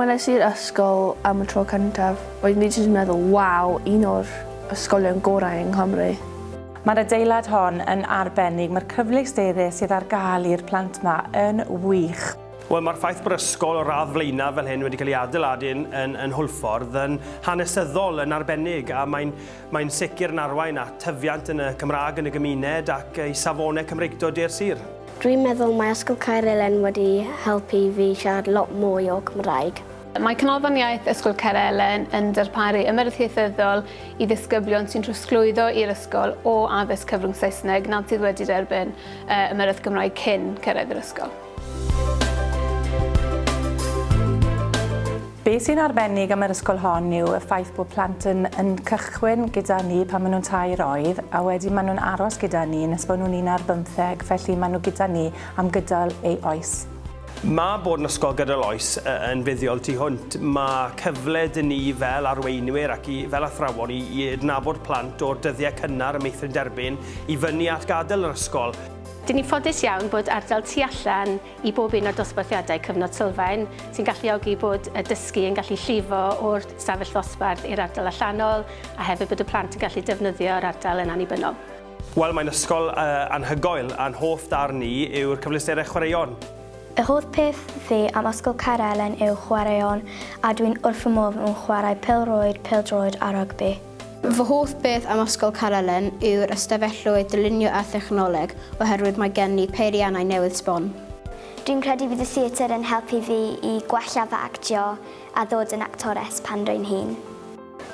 When es i'r ysgol am y tro cyntaf, roeddwn i jyst yn meddwl, waw, un o'r ysgolion gorau yng Nghymru. Mae'r adeilad hon yn arbennig, mae'r cyfleusterau sydd ar gael i'r plant 'ma yn wych. Wel, mae'r ffaith bod ysgol o radd flaenaf fel hyn wedi cael ei adeiladu yn, yn, yn Hwlffordd yn hanesyddol yn arbennig a mae'n mae sicr yn arwain at tyfiant yn y Cymraeg yn y gymuned ac i safonau Cymreictod de'r sir. Dwi'n meddwl mae Ysgol Caerelen wedi helpu fi siarad lot mwy o Cymraeg. Mae Canolfan Iaith Ysgol Caerelen yn darparu ymyrraeth ieithyddol i ddisgyblion sy'n trosglwyddo i'r ysgol o addysg cyfrwng Saesneg nad sydd wedi derbyn uh, ymyrraeth Gymraeg cyn cyrraedd yr ysgol. Be sy'n arbennig am yr ysgol hon yw y ffaith bod plant yn, yn cychwyn gyda ni pan maen nhw'n tair oed a wedyn maen nhw'n aros gyda ni nes bod nhw'n un ar bymtheg, felly maen nhw gyda ni am gydol ei oes. Mae bod yn ysgol gydol oes yn fuddiol tu hwnt. Mae cyfle dŷ ni fel arweinwyr ac i, fel athrawon i, i adnabod plant o'r dyddiau cynnar y meithrin derbyn i fyny at gadael yr ysgol. Dyn ni'n ffodus iawn bod ardal tu allan i bob un o'r dosbarthiadau cyfnod sylfaen, sy'n galluogi bod y dysgu yn gallu llifo o'r stafell ddosbarth i'r ardal allanol, a hefyd bod y plant yn gallu defnyddio'r ardal yn annibynnol. Wel, mae'n ysgol anhygoel, a'n hoff darn ni yw'r cyfleusterau chwaraeon. Y holl peth fi am Ysgol Caerelen yw chwaraeon, a dwi'n wrth fy modd yn chwarae pêl-rwyd, pêl-droed a rygbi. Fy hoff beth am Ysgol Carelen yw'r ystafelloedd dylunio a thechnoleg oherwydd mae gen ni peiriannau newydd sbon. Dwi'n credu bydd y theatr yn helpu fi i gwella fy actio a ddod yn actores pan rwy'n hŷn.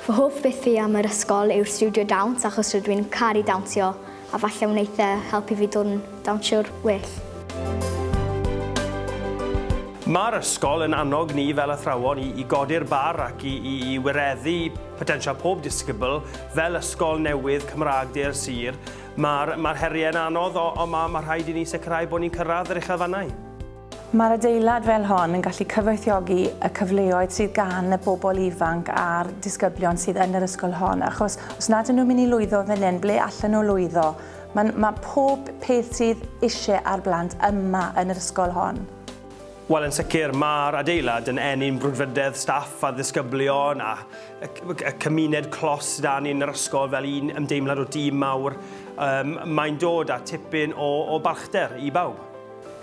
Fy hoff beth fi am yr ysgol yw'r stiwdio dawns achos rydw i'n caru dawnsio A falle wneith e helpu fi dod yn dawnsiwr well. Mae'r ysgol yn annog ni fel athrawon i, i godi'r bar ac i, i, i wireddu potensial pob disgybl fel ysgol newydd Cymraeg de'r sir. Mae'r, mae'r heriau'n anodd, ond ma, mae rhaid i ni sicrhau bod ni'n cyrraedd yr uchelfannau. Mae'r adeilad fel hon yn gallu cyfoethiogi y cyfleoedd sydd gan y bobl ifanc a'r disgyblion sydd yn yr ysgol hon, achos os nad ydyn nhw'n mynd i lwyddo fan hyn, ble allan nhw lwyddo? Mae'n, mae pob peth sydd eisiau ar blant yma yn yr ysgol hon. Wel, yn sicr, mae'r adeilad yn eni'n brwdfrydedd staff a ddisgyblion a y cymuned clos da ni yn yr ysgol fel un ymdeimlad o dîm mawr. Um, mae'n dod â tipyn o, o balchder i bawb.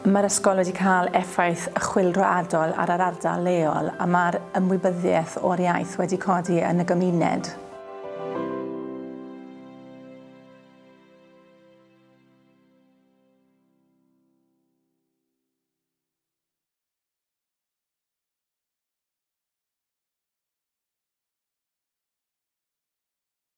Mae'r ysgol wedi cael effaith chwilroadol ar yr ardal leol a mae'r ymwybyddiaeth o'r iaith wedi codi yn y gymuned.